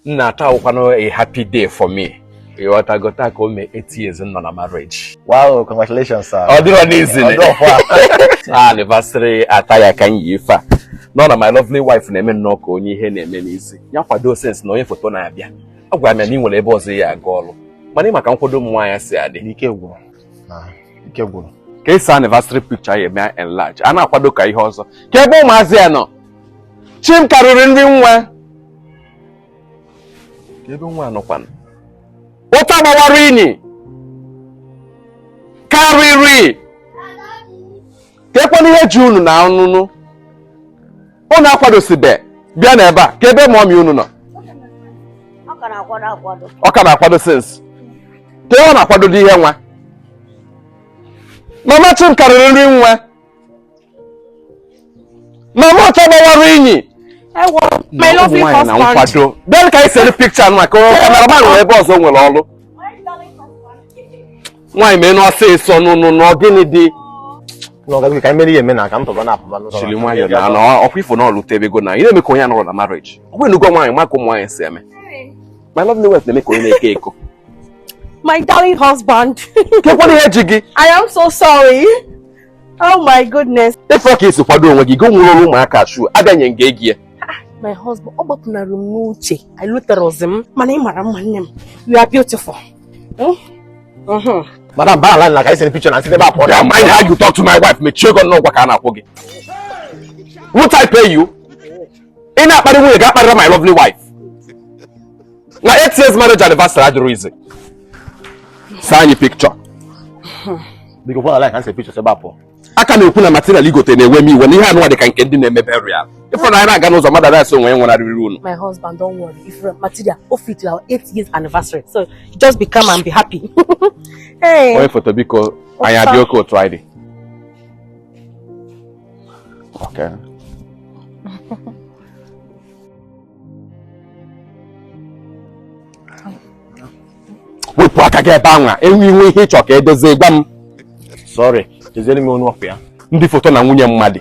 nna taa wụkwanụ a happy day for me ịghọtago taa ka o mee eight years nọ na marriage wow congratulations sir ọ dịrọ easy anniversary attire ka m yi ife a nọ na my lovely wife na-eme nnọọ ka onye ihe na-eme n'isi ya kwado since na onye foto na-abịa a gwara m ya na ị nwere ebe ọzọ ị ya-aga ọrụ mana ị ma ka nkwado ụmụ nwaanyị si adị ike gwụrụ ike gwụrụ ka e see anniversary picture a ya-eme enlarge a na-akwado ka ihe ọzọ kee ebe ụmụazị a nọ chim karịrị ndị ụwa ebe nwa a nọkwanụ ọcha gbawara inyi karịrị keekwanụ ihe ji unu na anụnụ unu akwadosibe bịa n'ebe a kee ebe mọmi unu nọ ọ ka na-akwado since kee ihe ọ na-akwado dị ihe nwa mama chim karịrị ndị ụwa mama ọcha gbawara inyi my lovely husband bịa ka anyị see picture nwa ka cameraman nwere ebe ọzọ o nwere ọrụ nwaanyị meenụ ọsịsọ nụnụ na ọ gịnị dị n'ọgazi ka emere ihe eme na ka ntọba na apụba n'ụzọ jili nwayọ na anọ ọ kwa ị fụ na o lutebego na ị na-eme ka onye anọrọ na marriage ọ bụrụ na ị lụgo nwaanyị ị ma ka ụmụ nwaanyị si eme my lovely wife na-eme ka onye na-eke eko my darling husband keekwanụ ihe ji gị i am so sorry Oh my goodness. Ị fụ ka i si kwado onwe gị, gị nwụrụ ọrụ ụmụaka shoe, abịanye nga egi ya. My husband, ọ gbapụnara m n'uche, I lụtara ọzọ m, mana ị mara mma nne m, you are beautiful. Hmm? Uh-huh. Madam, balance ka e see picture nwa m si n'ebe a pụọ. Mind how you talk to my wife, mechie gị ọnụ, ụgwọ ka a na-akwụ gị. Won't I pay you? ị na-akparị nwunye gị akparịra my lovely wife na eight years marriage anniversary adịrọ easy see anyị picture a ka na-ekwu na material i gote na-ewe m iwe na ihe anụwa dị ka nke ndị na-eme burial ị fụrọ na anyị na-aga n'ụzọ mmadụ a na-asị onye nwụnarịrị unu my husband don't worry if your material o fit our eight years anniversary so just be calm and be happy onye foto biko anyị adị okay otu anyị dị Okay. wepụ aka gị ebe anwa e nwee ihe ị chọ ka e dozie gwa m sorry doziere m ọnụ okpu ya ndị foto na nwunye mmadụ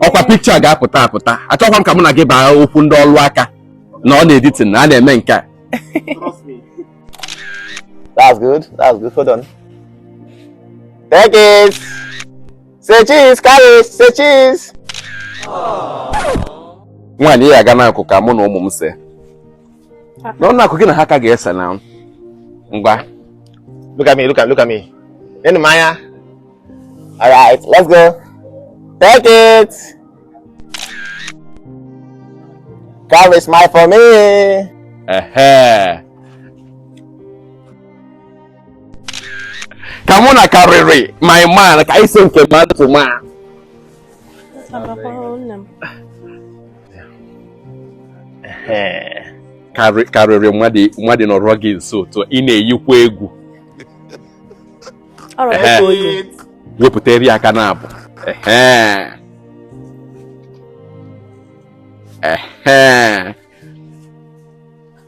ọ kwa picture ga-apụta apụta achọkwa m ka mụ na gị baa okwu ndị ọlụ aka na ọ n'editing ka a na-eme nke a Trust me. That's good. Hold on. Take it. Say cheese, Karịrị. Say cheese. nwaanyị ị ya-aga n'akụkụ ka mụ na ụmụ m see nọ n'akụkụ gị na ha ka ga-ese na ngwa look at me look at look at me nee m anya all right let's go take it carry smile for me come on carry my man ka anyị see nke man to man karịrị mmadụ nọrọ gị nso otu ị na-eyikwa egwu wepụtarị aka n'abụ ehe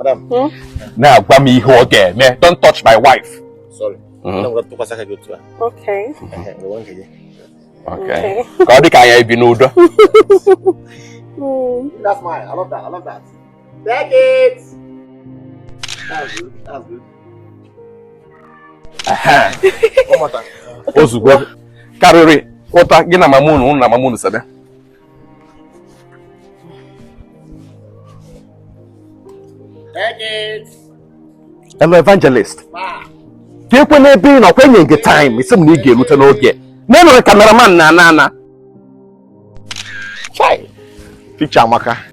Hmm? na-agwa m ihe ọ ga-eme don't touch my wife sorry hmm? okay Okay. Ka ọ dị ka anyị ga-ebi n'udo. Hmm. That's mine. I love that. I love that. Take it. That's good. That's good. O zugo karịrị pụta gị na mama unu na mama unu sebe. Hello, evangelist. Keekwanụ ebe ị nọ kwa enye m gị time ị sị m na ị ga-erute n'oge. N'enwere cameraman na-ana ana. Picture amaka.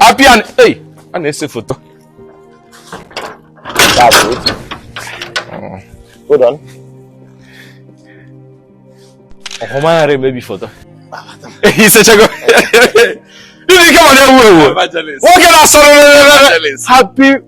apịa a na-ese foto Hold on. ọfụma ghara emebi foto i sechago ndị ike ma na-ewu ewu nwoke na-asọrọ happy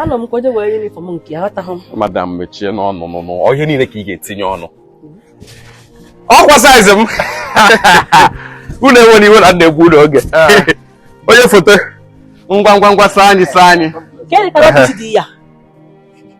anọ m ka onye were uniform nke ya aghọtaghị m madam mechie nụ ọnụ ọ ihe niile ka ị ga-etinye ọnụ ọ kwa size m unu ewena iwe na m na-egbu unu oge ah. onye foto ngwa ngwa ngwa see anyị see anyị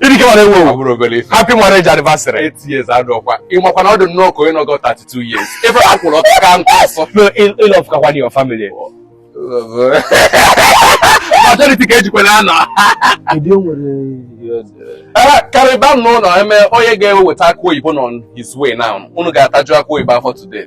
Idike mara ewu ewu. Ọ bụrọ obere ife. Happy marriage anniversary. Eight years adọkwa. Ị makwa na ọ dị nnọọ ka onye nọgo 32 years. Ebe a kwụrụ ọtọ ka nkụ ọsọ. No, ị- ị love kakwa your family. Majority ka ejikwa na anọ. Kedu o nwere Ee, karịba m n'ụlọ eme onye ga-eweta akụ oyibo nọ on his way now. Unu ga-ataju akụ oyibo afọ today.